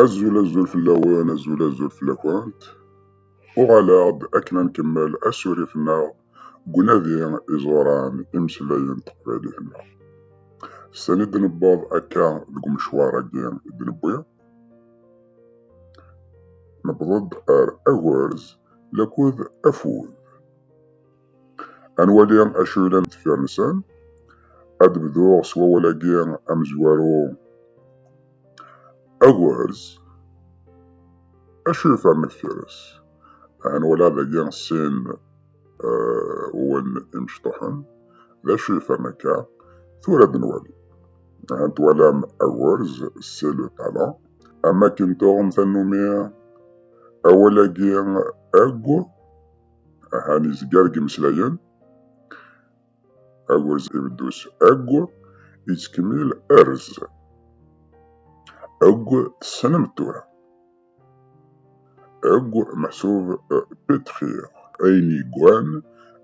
Azul azul fell-awen, azul azul fell-akent. Uɣaleɣ-d akken ad nkemmel asurif-nneɣ deg unadi iẓuran imeslayen teqbaylit-nneɣ. Sani d-nebbeḍ akka deg umecwar-agi i d-newwi. Nebbeḍ-d ar agurz lakud afud. Ad nwali acu yellan deffir-nsen. Ad d-bduɣ s wawal-agi amezwaru agerz. Acu yefran deffir-s? Aha nwala dagi sin wawalen imecṭuḥen. D acu yefran akka? Tura ad d-nwali. Aha twalam agerz, c'est le talent. Am akken tuɣem tannumi awal-agi ag. Ahan izga deg imeslayen, agurz ibeddu s egg, yettkemmil erz. Egg tessnem tura. Egg meḥsub pitxi. Ayen yeggan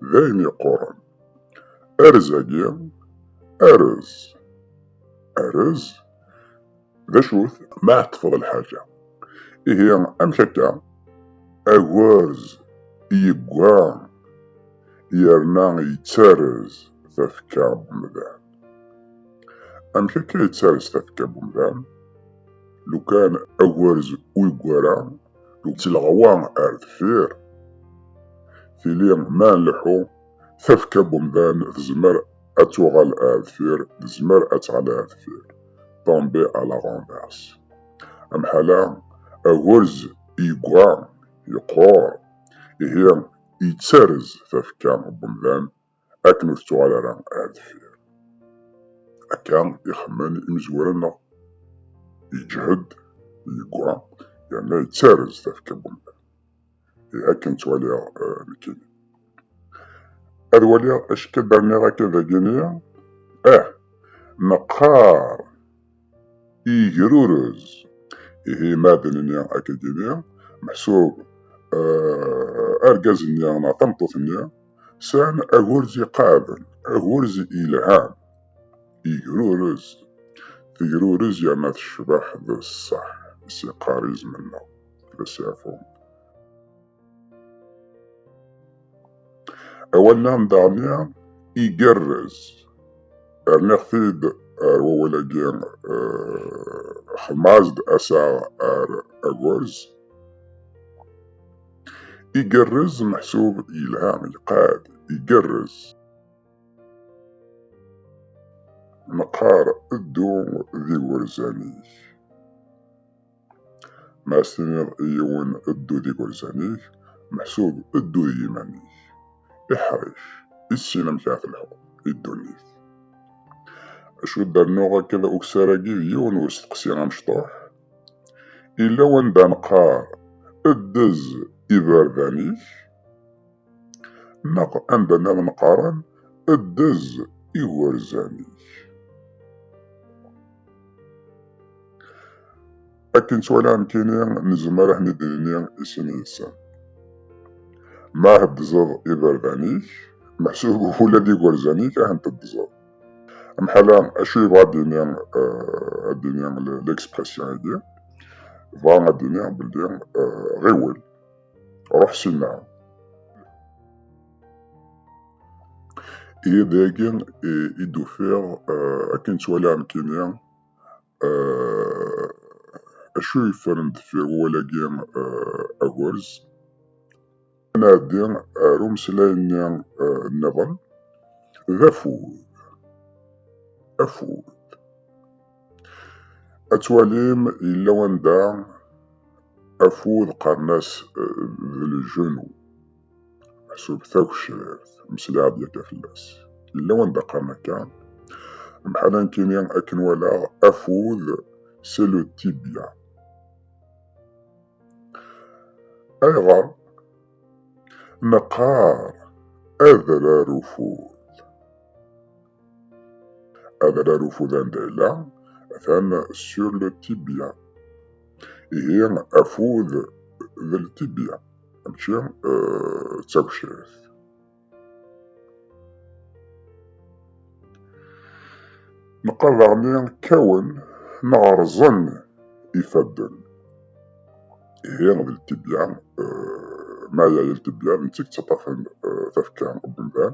d ayen yeqquren. Erz-agi, erz. Erz D acu-t ma ɛeṭṭfeḍ lḥaǧa? Ihi amek akka? Agerz yegga yerna yettarez tafekka n umdan. Amek akka yettarez tafekka n umdan? Lukan agerz ur yeggi ara, d lɣwa ar deffir, tili ma nleḥḥu, Tafekka n umdan tezmer ad tuɣal ar deffir, tezmer ad tɣli ar deffir, tomber à la renverse. Amḥal-a, agerz yegga, yeqqur, ihi yettarez tafekka n umdan akken ur tettuɣal ara ar deffir. Akka i xemmen imezwura-nneɣ, yeǧhed, yegga, yerna yettarez tafekka n umdan. akken ttwaliɣ eh, nekkini ad waliɣ acka berniɣ akka dagini ah meqqar igrurez ihi ma d nini akka gini meḥsub eh, argaz-nni neɣ tameṭṭut-nni sɛan agurz iqaɛden agurz ilhan igrurez tegrurez yerna tecbeḥ d ṣṣeḥ s iqarizmen-nneɣ da Servon. Awal-a n Dania igerrez. Rniɣ-t-id ar wawal-agi xemmaẓ-d asaɣ ar agurz. Igerrez meḥsub yelha, iqad, igerrez. Neqqar ddu d igerzan-ik. Ma as-tiniḍ i yiwen ddu d igerzan-ik, meḥsub ddu d yiman-ik. Iḥric, i tessin amek ara telḥuḍ i ddunit. Acu d rnuɣ akka d ukessar-agi d yiwen n usteqsi amecṭuḥ. Illa wanda neqqar ddez iberdan-ik. Neɣ anda nniḍen qqaren ddez igerzan-ik. Akken ttwaliɣ nekkini nezmer ad ten-id-nini i sin yid-sen. Ma heddzeḍ iberdan-ik, meḥsub ula d igerzan-ik ad ten-teddzeḍ. Amḥala, acu yebɣa ad d-ini ad d-ini l-expression-agi? Bɣa ad d-iniɣ belli ɣiwel. Ruḥ syenna. Ihi dagi i d-ufiɣ akken ttwaliɣ nekkini acu yeffren deffir wawal-agi agerz. Ad nɛeddi ar umeslay-nni nniḍen d afud. Afud. Ad twalim yella wanda afud qqaren-as eh, d lejenu meḥsub tagecrirt meslaɛed yakka fell-as yella wanda qqaren akka mḥala nekkini akken walaɣ afud c'est le tibia ayɣer neqqar adrar ufud Adrar ufudan d ayla atan sur le tibia. Ihi afud d ltibia, mačči d tagecrit. Neqqar daɣen kkawen neɣ rẓen ifadden. Ihi d ltibia, ma yaya ltibia, nettak ttaṭṭafen tafekka n umdan.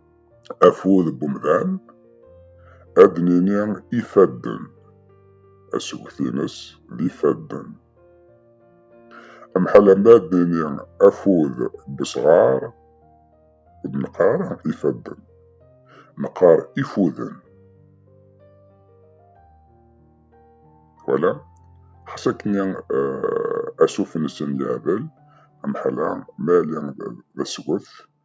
afud n umdan, ad d-nini ifadden. Asget-ines d ifadden. Amḥala ma ad d-nini afud n usɣar, ur d-neqqar ifadden, neqqar ifuden. Wala, ḥas akken asuf-nsen yeɛdel, amḥala ma yali d asget,